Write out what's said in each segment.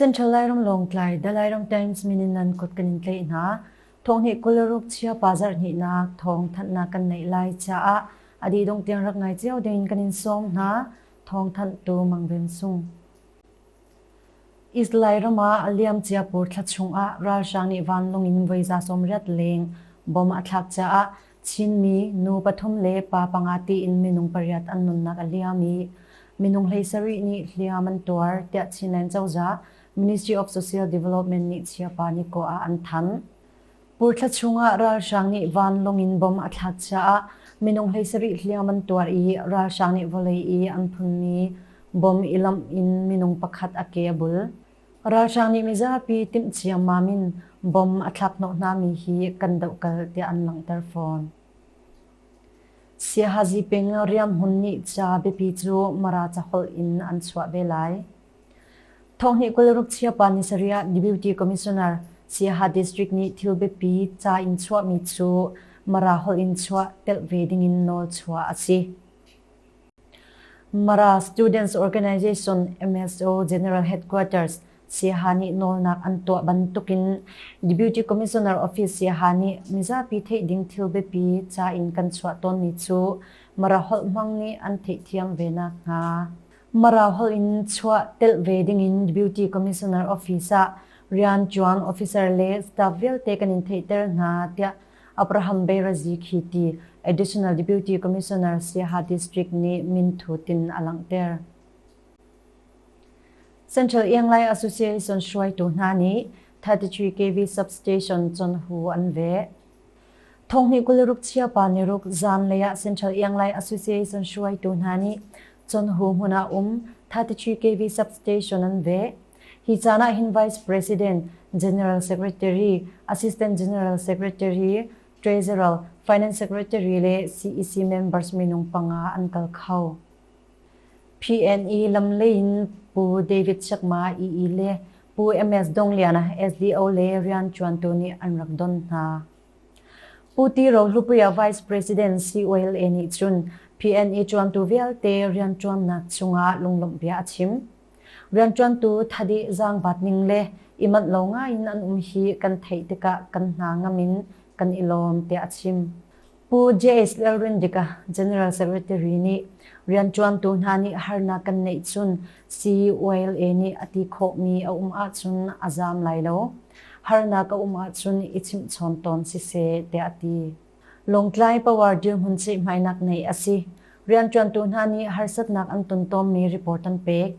Central Lairam Lawngtlai Dalairam Times mininan kut kan in tlei hna thong hi kularuk chia bazar ni na thong than na kan nei lai cha a adi dong tiang rak ngai chiao ding kan in som hna thong than tu mang den sung Israel ram ah a liamcia pawl thla chungah ralhrang nih vanlung in voiza sawmriat leng bom a thlak caah Chinmi nu pathum le pa panga tiin minung pariat an nunnak a liam i minung hleisarih nih hliam an tuar tiah Chinland cozah Ministry of Social Development nih Chiappa Nikaw ah an thanh. Puthla chungah ralhrang nih vanlung in bom a thlak caah minung hleisarih hliang an tuar i ralhrang nih vawlei i an phunmi bom i lamh in minung pakhat a ke a bul. Ralhrang nih mizapi timh ciammam in bom a thlakhnawh hnami hi kan dohkal tiah an langhter fawn. Siaha Ziping Riam Hun nih ca biapi cu Mara caholh in an chuah ve lai. Thonghnih kul ruk chia pa ni sarih ah Deputy Commissioner Siaha District nih thil biapi ca in chuahmi cu Mara holh in chuah telh ve ding in nawl chuah a si. Mara Students Organization MSO General Headquarters Siaha nih nawlnak an tuah bantukin Deputy Commissioner Office Siaha nih mizapi theih ding thil biapi ca in kan chuah tawnmi cu Mara holh hmang nih an theihthiam ve nakhnga Mara holh in chuah telh ve dingin Beauty Commissioner Office ah rian ṭuan officer le staff vialte kan in theihter hna tiah Abraham Beirazi khi ti Additional Deputy Commissioner Siaha District nih minthut in a langhter. Central Ianglai Association hruaitu hna nih 33 kV substation chonhu an veh. Thonghnih kul ruk chiapa niruk zanlei ah Central Ianglai Association hruaitu hna nih Chonhu hmun ah um 33 kV substation an veh. Hi caan ah hin Vice President, General Secretary, Assistant General Secretary, Treasurer, Finance Secretary le CEC members minung panga an kal kho. PNE lam lei in Pu David Chakma EE le Pu MS Dong Liana SDO le rian ṭuantu nih an rak don hna. Pu Ti Ro Hlupuia Vice President COLA nih cun PNE ṭuantu vialte rian ṭuannak cungah lunglawmhbia a chim. Rianṭuantu Thadi Zaang Bat Ning le i manh lo ngaiin an um hi kan theih tikah kan hna ngam in kan i lawm tiah a chim. Pu JS Lalrindika, General Secretary nih rianṭuantu hna nih harnak kan neih cun CULA nih a ti khawhmi a um ahcun a zaam lai lo. Harnak a um ahcun i chimhchawn tawn siseh tiah a ti. Lawngtlai Power dirhmun ceihmainak neih a si. Rianṭuantu hna nih harsatnak an ton tawnmi report an pek.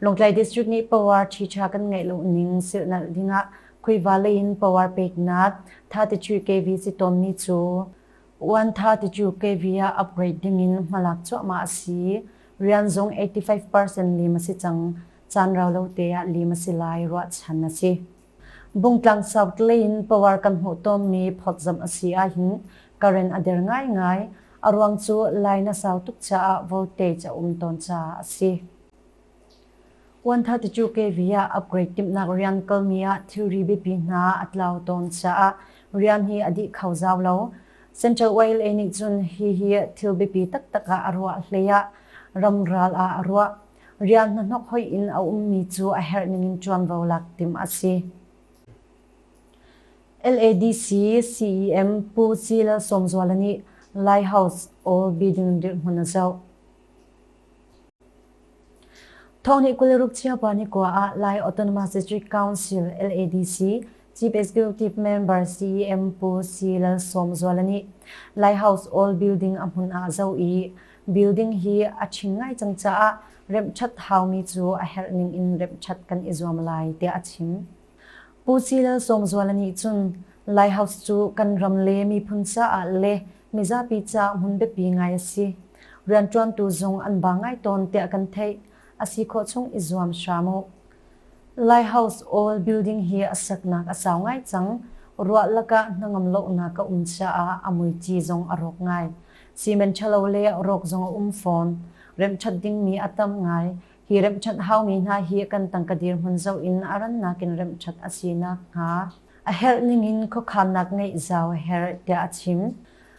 Lawngtlai District nih power ṭhiṭha kan ngeih lo ning silhnalh dingah khuiva lei in power peknak Tha Ti Chu KV si tawnmi cu Uan Tha Ti Chu KV ah upgrade dingin hmalak cuahmah a si. Rian zung eighty five percent lim a si cang. Caan rau lo te ah lim a si lai ruahchan a si. Bungtlang South Lane power kan hmuh tawnmi phawtzamh a si ahhin current a der ngaingai. A ruang cu line a sau tuk caah voltage a um tawn caah a si. Uanthate cu KV ah upgrade timhnak rian kalmi ah thilri biapi hna a tlau tawn caah rian hi a dih kho zau lo. Central YLA nih cun hihi thil biapi taktak ah a ruah hlei ah ram ral ah a ruah. Rian hnahnok hoi in a ummi cu a herh ningin ṭuanvo lak timh a si. LADC CEM Pu C Lal Sawmzuala nih Lighthouse All Building dirhmun a zoh. Thawngni kul ruk chiapa ni kwa ah Lai Autonomous District Council LADC Chief Executive Member CEM Pu C Lal Sawmzuala nih Lighthouse All Building a hmun ah zo i building hi a ṭhing ngai cang caah remhṭhat haumi cu a herh ning in remhṭhat kan i zuam lai tiah a chim. Pu Ci Lal Sawmzuala nih cun Lighthouse cu kan ram le miphun caah le mizapi caah hmun biapi ngai a si. Rianṭuantu zung an ba ngai tawn tiah kan theih. A si khawh chung i zuam hram u. Lighthouse awl building hi a seknak a sau ngai cang. Ruah lakah hnangam lohnak a um caah a muici zong a rawk ngai. Cement ṭhalo le rawk zong a um fawn. Remhṭhat dingmi a tam ngai. Hi remhṭhat haumi hna hi kan tangka dirhmun zoh in a rannak in remhṭhat a si nakhnga a herh ningin khuakhannak ngeih zau a herh tiah a chim.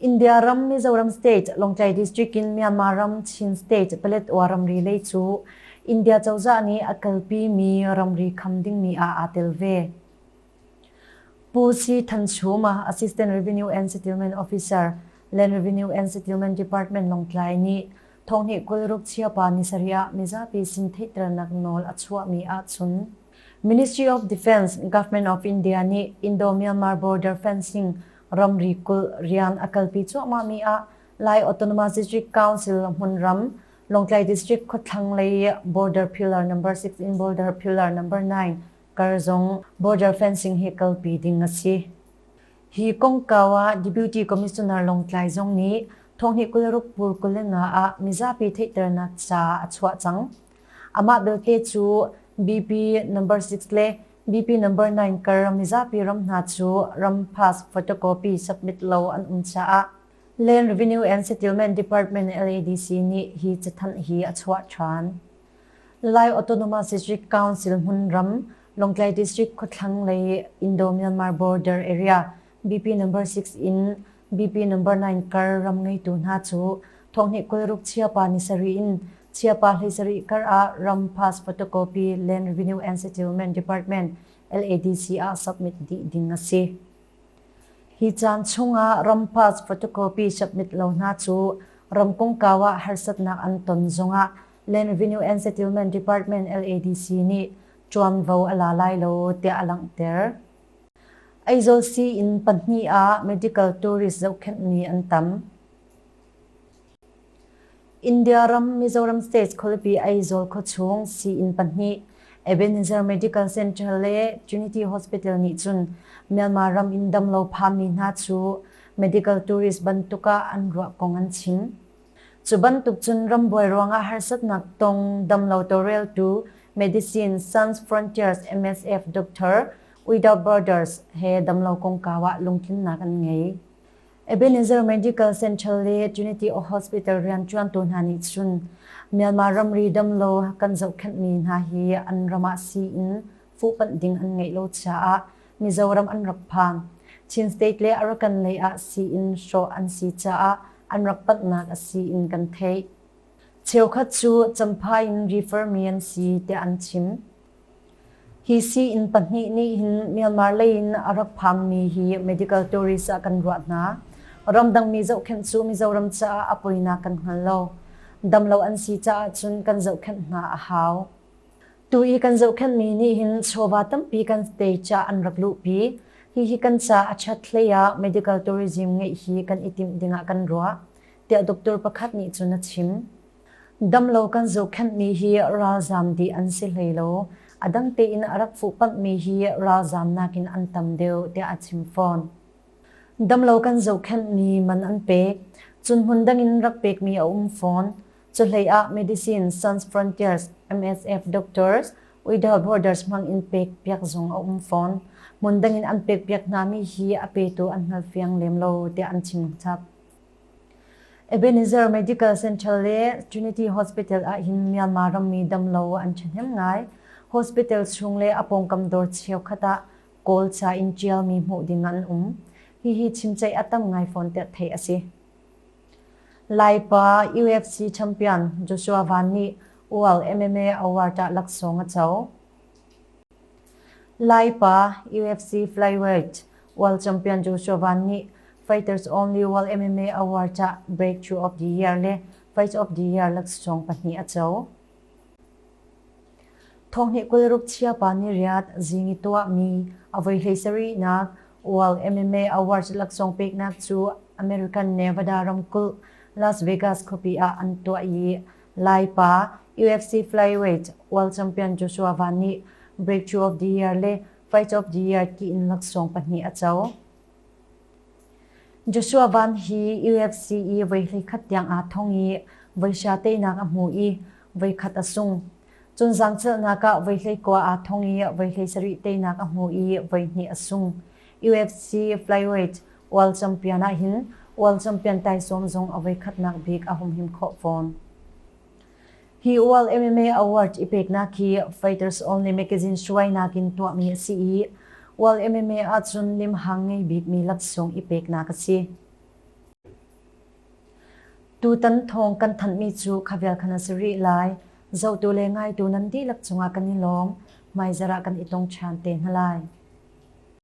India ram Mizoram state Lawngtlai district in Myanmar ram Chin state Paletwa ramri lei cu India cozah nih a kalpi mi ramri kham dingmi ah aa tel ve. Pu C. Thanchhuma, Assistant Revenue and Settlement Officer, Land Revenue and Settlement Department Lawngtlai nih thonghnih kul rukchia pa ni sarih ah mizapi sin theihternak nawl a chuahmi ahcun Ministry of Defence Government of India nih Indo-Myanmar border fencing ramri kulh rian a kalpi cuahmahmi ah Lai Autonomous District Council hmunram, Lawngtlai District khuathlang lei border pillar number six in border pillar number nine kar zong border fencing hi kalpi ding a si. Hi kongkau ah Deputy Commissioner Lawngtlai zong nih thonghni kul ruk pur kulina ah mizapi theihternak ca a chuah cang. Amah belte cu BP number 6 le BP number 9 kar mizapi ram hna cu ram pass photocopy submit lo an um caah Land Revenue and Settlement Department LADC nih hi cathanh hi a chuah ṭhan. Lai Autonomous District Council hmun ram Longtlai District khawthlang lei Indo-Myanmar border area BP number 6 in BP number nine kar ram ngeitu hna cu thonghnih kulruk chiapa ni sarih in chiapa hlei sarih kar ah ram pass photocopy land revenue and settlement department LADC ah submit dih ding a si. Hi caan chungah ram pass photocopy submit lo hna cu ram kongkawa harsatnak an ton zongah Land Revenue and Settlement Department LADC nih tuanvo a la lai lo tiah a langhter. Aizawl sii-inn pahnih ah medical tourist zohkhenhmi an tam. India ram Mizoram State khualipi Aizawl khuachung sii-inn pahnih Ebenezer Medical Center le Trinity Hospital nih cun Myanmar ram in damlo phanmi hna cu medical tourist bantuk ah an ruah kong an chim. Cu bantuk cun rambuai ruangah harsatnak tong damlo tawreltu Medicine Sans Frontiers MSF Doctor Uida Borders he damlo kongkau ah lungtlinnak an ngei. Ebenezer Medical Center le Trinity Hospital rianṭuantu hna nih cun Myanmar ramri damlo kan zohkhenhmi hna hi an ram ah sii in fuhpanh ding an ngeih lo caah Mizoram an rak phan. Chin State le Arakan lei ah sii-inn hrawh an si caah an rak panhnak a sii-inn kan theih. Cheukhat cu Champhai in refer mi an si tiah an chim. Hi sii-inn pahnih nih hin Myanmar lei in a rak phanmi hi medical tourist ah kan ruah hna. Ramdangmi zohkhenh cu Mizoram caah a poinak kan hngal lo. Damlo an si caah cun kan zohkhenh hna a hau. Tu i kan zohkhenhmi nih hin chawva tampi kan te ca an rak luhpi. Hihi kan ca a chat hlei ah medical tourism ngeih hi kan i timh dingah kan ruah, tiah doctor pakhat nih cun a chim. Damlo kan zohkhenhmi hi ralzaam dih an si hlei lo, a dang tein a rak fuhpamhmi hi ralzaam nakin an tam deuh, tiah a chim fawn. Damlo kan zohkhenhmi man an pek, cun hmun dangin rak pekmi a um fawn. Cuhleiah Medicine Sans Frontiers MSF doctors Uidal Borders hmang in pek piak zung a um fawn. Hmun dangin an pek piak hna mi hi a petu an hngal fiang lem lo tiah an chim chap. Ebenezer Medical Center le Trinity Hospital ah hin Myanmar rammi damlo an thahnem ngai. Hospital chung le apongkam dor cheu khata kawl cha in tial mi hmuh ding an um. Hi hi chimchai atam ngai fawn te thei asi. Laipa UFC champion Joshua Van nih ual MMA award-ah laksawng a co. Laipa UFC flyweight world champion Joshua Van nih Fighters Only World MMA Award-ah Breakthrough of the Year le Fight of the Year laksawng pahnih a co. Thawhhneh kul ruk chiapa ni riat zing i tuahmi a voi hlei sarihnak World MMA Awards laksawng peknak cu American Nevada ramkulh Las Vegas khuapi ah an tuah i Lai pa UFC flyweight world champion Joshua Vaughn nih Breakthrough of the Year le Fight of the Year ki in laksawng pahnih a co. Joshua Van hi UFC i voi hleikhat tiang aa thong i voihra teinak a hmu i voikhat a sung. Cun zaangcelhnak ah voi hleikua aa thong i voi hleisarih teinak a hmu i voihnih a sung. UFC flyweight world champion ahhin world champion taisawm zong a voikhatnak bik a hum him khawh fawn. Hi UAL MMA Award i peknak hi Fighters Only Magazine hruainak in tuahmi a si i UAL MMA ahcun limhang ngei bikmi laksawng i peknak a si. Tutan thawng kan thanhmi cu khavial khan a si rih lai. Zotu le ngaitu nan dihlak cungah kan i lawm. Hmaizarah kan i tong ṭhan te hna lai.